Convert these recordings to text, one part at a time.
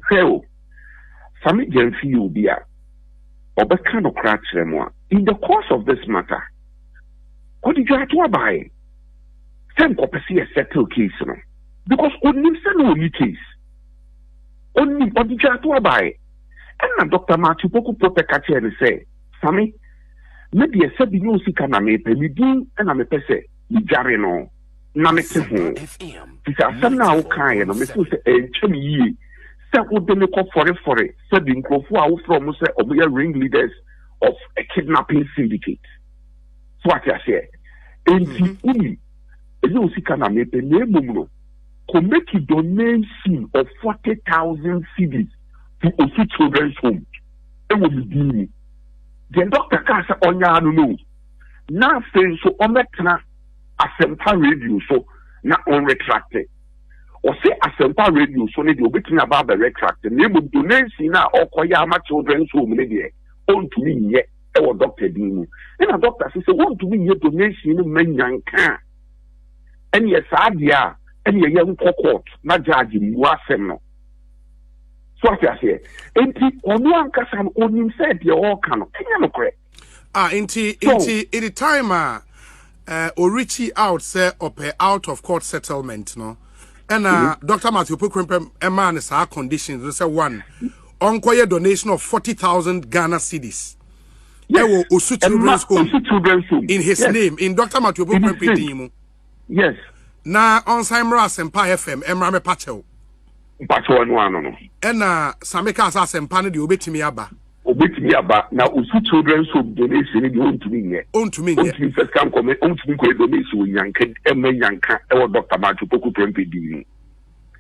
Hwɛ o, fa me Gyamfi yɛ obi a ɔbɛka nokorɛ akyerɛ mo a in the course of this matter, ɔde dwaatoa baeɛ sɛ nkɔpɛ sɛ yɛ settle case no because ɔnim sɛ na ɔni case ɔnim ɔde dwaatoa baeɛ ɛna Dr. Matthew Poku Potɛ ka kyerɛ no sɛ Same, me deɛ sɛ bi no sika na mepɛ, me din na mepɛ sɛ medware no na mete ho. Fi sɛ asɛm no a wokaeɛ no, mefo sɛ ɛntwa me yie sɛ wode me kɔ fɔrefɔre sɛ bi nkurɔfoɔ a wofrɛ wɔn sɛ wɔyɛ ring leaders of a kidnapping syndicate. So wate aseɛ? Enti mhm. wonim, ɛnyɛ wo sika na mepɛ na mmom no, kɔ make donation of forty thousand cedis to Osu Children's Home. wɔ me din mu. Deɛ dɔkta kaa sɛ ɔnyɛ ara no no o, na afei nso ɔmmɛtena Asɛmpa Radio so na ɔnretrakte. Ɔse Asɛmpa Radio so no deɛ ɔbɛtumi aba abɛretrakte na mmom donation no a ɔrekɔyɛ ama Children's Home no deɛ ɔntumi nyɛ wɔ dɔkta din mu. Ɛna dɔkta se sɛ wɔntumi nyɛ donation no mma Nyanka a, ɛneɛ saa deɛ a ɛneɛ yɛnkɔ court na judge mmua asɛm no. so ate aseɛ nti ɔno ankasa no ɔnim sɛ deɛ ɔreka no ɛnyɛ nokorɛ ah nti nti in the time a uh, eh, ɔrechi out sɛ ɔpɛ out of court settlement no ɛna mm -hmm. dr matthew pokrempem ɛmaa no saa conditions no sɛ one ɔnkɔyɛ donation of 40000 ghana cities ɛwɔ yes. osu children's home in his yes. name in dr matthew pokrempem din mu Yes. Na ɔnsan mmra Asempa FM mmra mɛpa kyɛw. Mpa kyɛw ɛno ano no. Ɛna Same kaa sɛ Asempa no deɛ obetumi aba. Obetumi aba na Osu Children's Home donation no deɛ ontumi nyɛ. Ontumi nyɛ. Ontumi nfa sika nkɔmɛ, ontumi nkɔyɛ donation wɔ Nyanka ɛmɛ Nyanka ɛwɔ Dɔkta Matthew Poku Prempeh din mu.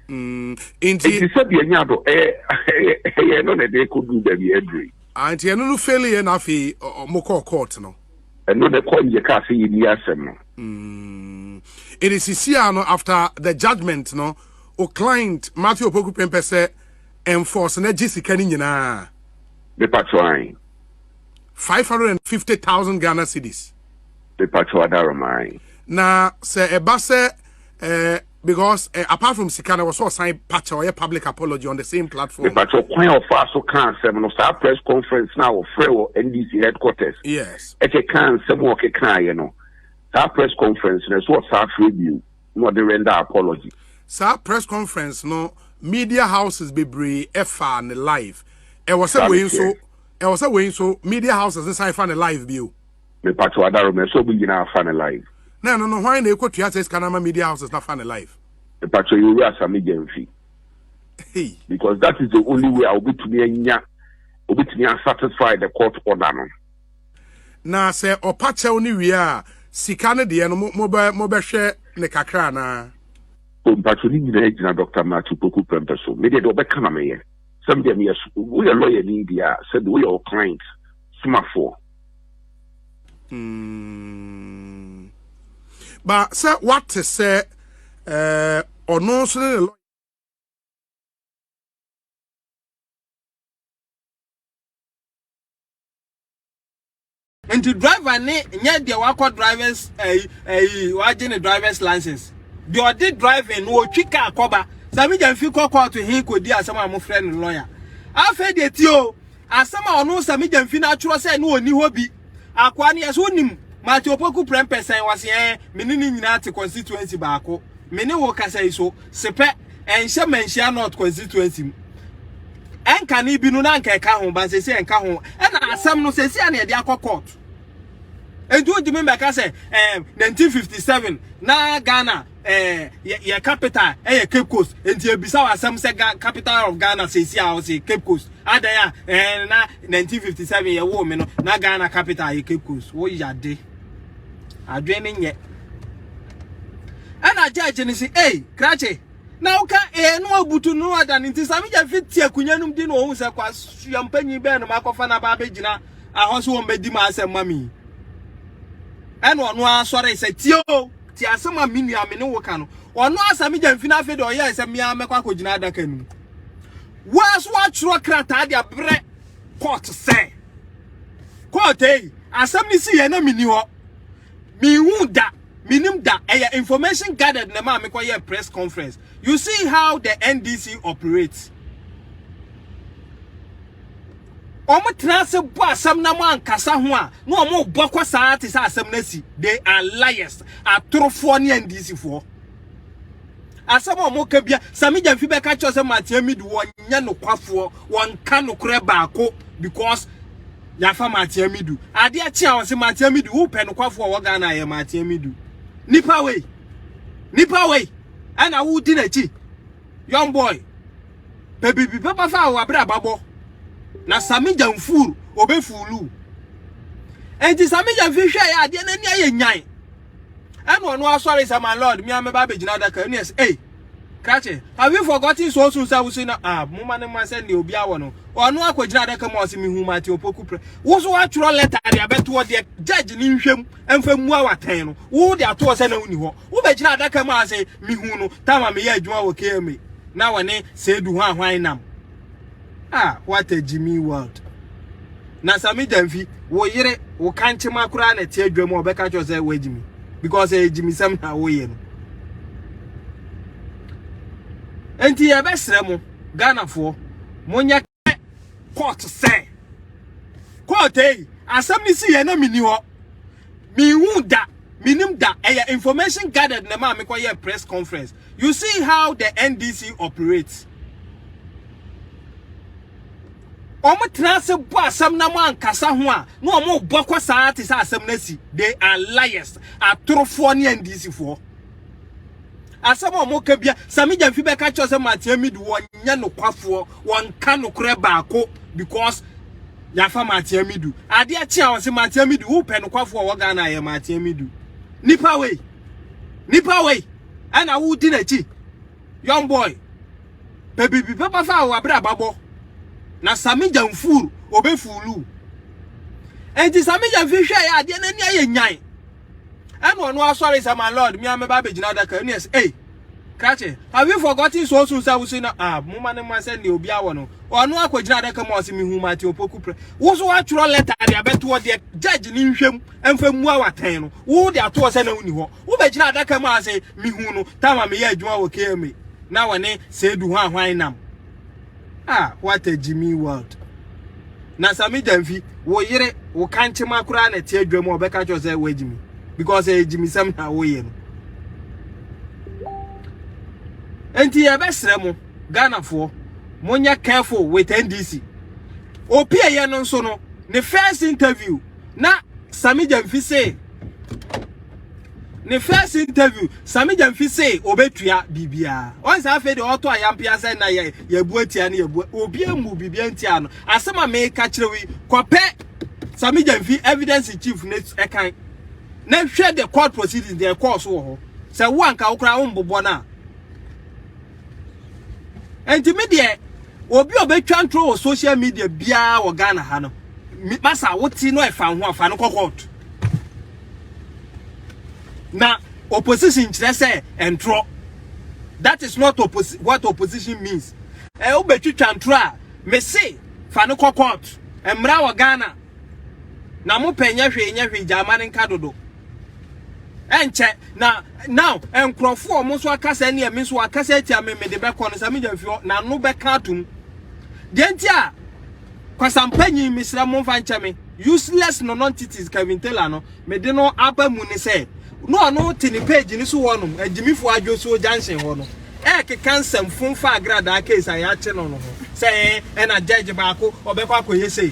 Mm, nti. Nti sɛ deɛ nya do ɛyɛ ɛyɛ ɛyɛ no na ɛde kɔ duru baabi ɛduru yi. Ah, nti ɛno no failure na afei ɔmo kɔɔ court no. ɛno na ɛkɔ yɛ kaa sɛ yɛni asɛm no. Mm. It is sisia no after the judgment no o client Matthew Opoku Prempeh sɛ enforce na gye sika no nyinaa. Mepatro an. 550,000 Ghana cedis. Mepatro adarom an. Na sɛ ɛba sɛ eh, Because eh, apart from sika na wɔsɔ ɔsan pakyɛ ɔyɛ public apology on the same platform. Ìbàtọ̀ kwan a ɔfaa so kaa nsɛm no saa press conference náà wɔfrɛ wɔ NDC headquarters. Yes. Ɛkyɛ kaa nsɛm a ɔkekaeɛ no saa press conference no ɛso ɔsaa frɛ bio na ɔde render apology. Saa press conference no media houses bebree ɛfaa ne live. Ɛwɔ sɛ wei nso ɛwɔ sɛ wei nso media houses nsan fa ne live bio. Me pacho adaro me so ɔmo nyinaa fa no live. Na ɛno no hwan na ɛkɔ tua saa sika no ama media houses na fa no live. Me pacho yɛ owura same gyamfi. Hey. Because that is the only way a obetumi anya obetumi a satisfy the court order no. Na sɛ ɔpa kyɛw no wie a sika no deɛ no mo mo bɛ mo bɛhwɛ ne kakra anaa. O mpacho ne nyinaa gyina Doctor Matthew Poku Prempeh so. Me deɛ deɛ ɔbɛka na meyɛ. Sɛ me deɛ meyɛ woyɛ lawyer ni deɛ a sɛ deɛ woyɛ wo client somafoɔ. Mm. But sɛ wate sɛ ɔno eh, nso ne ne lɔya. nti driver ne nyɛ deɛ wakɔ drivers ɛyi eh, ɛyi eh, wagye ne drivers license deɛ ɔde driving no ɔtwi kaa kɔba sɛ megya mfi kɔ kɔɔto he kɔdi asɛm a mofrɛ no lɔya afei deɛ ti o Asɛm a ɔno Samija Mfina atwerɛ sɛ ne ɔnni hɔ bi. Akoa no, yɛse wonim Matthew Opoku prɛmpɛ sɛn? Ɔse ɛɛ, me ne ne nyinaa te constituency baako. Me ne wo kasa yi so, Sepɛ, ɛnhyɛ Manhyia North constituency mu. Ɛnkane bi no na anka ɛka ho, but seesei ɛnka ho. Ɛna asɛm no seesei a na yɛde akɔ court. Enti wontumi mmɛka sɛ ɛɛ, 1957 na Ghana Eh, yɛ, yɛ capital ɛyɛ Cape Coast, nti ebisa wo asɛm sɛ Ga, capital of Ghana seesi a ɔse Cape Coast, adɛn a, eh, na 1957 yɛ woo me no, na Ghana capital yɛ Cape Coast, wo yade. Adwen ne nyɛ. Ɛna judge ne se, ei, krakye, na woka ee no abutu no ada no nti same gya fiti akunya nom di na ɔhu sɛ kwasua mpanyin bɛn no makɔfa no aba abɛgyina ahɔ so wɔmmɛdi ma asɛm ma me ɛna ɔno ara sɔre sɛ tie o Tie asɛm a me nua a me ne wo ka no. Ɔno ara sɛ megya mfini afei deɛ ɔyɛɛ sɛ me ara mɛkɔ akɔgyina adaka no mu. Wo ara so woatwerɛ krataa de abrɛ court sɛ court ei asɛm no si yɛ na menni hɔ mehu da menim da ɛyɛ information gathered na ɛma mekɔyɛ press conference you see how the NDC operates wɔtena ase bɔ asɛm na wɔankasa ho a na wɔrebɔ kɔ saa te sɛ asɛm no asi they are liars atorofoɔ ne ndisifoɔ asɛm a wɔka bia sami gyamfi bɛka kyerɛ sɛ matea midi wɔnyɛ nokwafoɔ wɔnka nokorɛ baako because yafa matea midu adeɛ kye a wɔse matea midu wopɛ nokwafoɔ wɔ Ghana yɛ matea midu nipa wei nipa wei ɛna wodi n'akyi young boy Pɛ biribi papa fa a w'abraba bɔ, na Sami Jamfuur ɔbɛ fuulu wo. Enti Sami Jamfuur hwɛɛ yɛ adeɛ n'ani ayɛ nyan. Ɛna ɔno asɔre sɛ my lord me a mɛba abɛgyina adaka ɛne ɛsɛ ei krakye have you forgotten so soon sɛ wose na ah moma ne ma sɛ ne obi awɔ no ɔno akɔgyina adaka mu a ɔse mehu Martin Opoku prɛ wo so atwerɛ lɛta de abɛtoɔ deɛ judge ne nhwɛm ɛmfa mmua wo atɛn no wo de ato hɔ sɛ na wonni hɔ wobɛgyina adaka mu a sɛ mehu no tama meyɛ adwuma wɔ kma na wɔne seedu ho ahwan nam ah what a jimmy world na sami danfi wo yere wo kankyema koraa na ɛte adwa mu a ɔbɛka kyerɛ sɛ woagyimi because ɛyɛ gyimisɛm na woyɛ no enti yɛbɛsrɛ mo ghanafoɔ monyɛ court sɛ court yi asɛm ne si yɛ na menni hɔ mehu da menim da ɛyɛ information gathered na maa mekɔyɛ press conference you see how the ndc operates wɔn tena ase bɔ asɛm na mo ankasa ho a na wɔn bɔ kɔ saa te sɛ asɛm no asi they are liars atorofoɔ ne ndc foɔ Asɛm a wɔka bia, sɛ me gyamfi bɛka kyerɛ sɛ Martin Amidu wɔnyɛ nokwafoɔ, wɔnka nokorɛ baako because yɛafa Martin Amidu. Adeɛ kye a wɔse Martin Amidu, wopɛ nokwafoɔ a wɔ Ghana yɛ Martin Amidu. Nipa wei, nipa wei, ɛna wodi n'akyi. Young boy, pɛ biribi papa fa a wɔabrɛ ababɔ. Na Sami Gyamfur, ɔbɛfuulu. Enti Sami Gyamfi hwɛ yɛ adeɛ n'ani ayɛ nyan. Ɛna ɔno asɔre sɛ my lord me a mɛba abɛgyina adaka ɛne ɛsɛ ei krakye have you forgotten so soon sɛ wose na ah moma no ma sɛ ne obi awɔ no ɔno akɔgyina adaka mu ɔse mehu mate opoku prɛ wo so woatwerɛ lɛta de abɛtoɔ deɛ judge ne nhwɛm ɛmfa mmua watɛn no wo de atoɔ sɛ na woni hɔ wobɛgyina adaka mu ase mehu no tama meyɛ adwuma wɔ kma na wɔne sɛ du ho ahwan nam ah what a jimmy world na sami danfi wo yere wo kankyema koraa na ɛte adwa mu a ɔbɛka kyerɛ sɛ woagyimi because ɛyɛ gyimisɛm na woyɛ no nti yɛbɛsrɛ mo ghanafoɔ monyɛ careful with ndc opi ɛyɛ no nso no ne first interview na sami danfi se ne first interview sami gyamfi se obetua bibia wɔn saa afei de ɔtɔ ayampia sɛ na yɛ yɛbu atia ne yɛbu obi amu bibia ntia no asɛm a meka kyerɛ wi kɔpɛ sami gyamfi evidence chief ne ɛkan na hwɛ the court proceedings deɛ ɛkɔɔ so wɔ hɔ sɛ wo anka wo koraa wombobɔ no a ɛnti me deɛ obi a ɔbɛtwa ntoro wɔ social media biara wɔ ghana ha no masa wote no ɛfa ho afa no kɔ court Na opposition kyerɛ sɛ ntorɔ. That is not oppos what opposition means. Ɛ wobɛtwitwa ntorɔ a, me se fa no kɔ court. Mmara wɔ Ghana. Na mo pɛ nyɛ hwee nyɛ hwee gyaama no nka dodo. Ɛnkyɛ na now nkurɔfoɔ ɔmo nso akasa ne ɛme nso akasa atia me mede bɛkɔ no sɛ me gya fio na no bɛka atom. Deɛ nti a kwasampanyin mesrɛ mo mfa nkyɛ me. Useless nonontities Kevin Taylor no mede no aba mu ne sɛ na ɔno te ne page no so hɔnom agyimifoɔ adwosuo junction hɔ no ɛrekeka nsɛm fom fa agradaa case a yɛakye no no ho sɛ ɛn ɛna judge baako ɔbɛkɔ akɔyɛ sei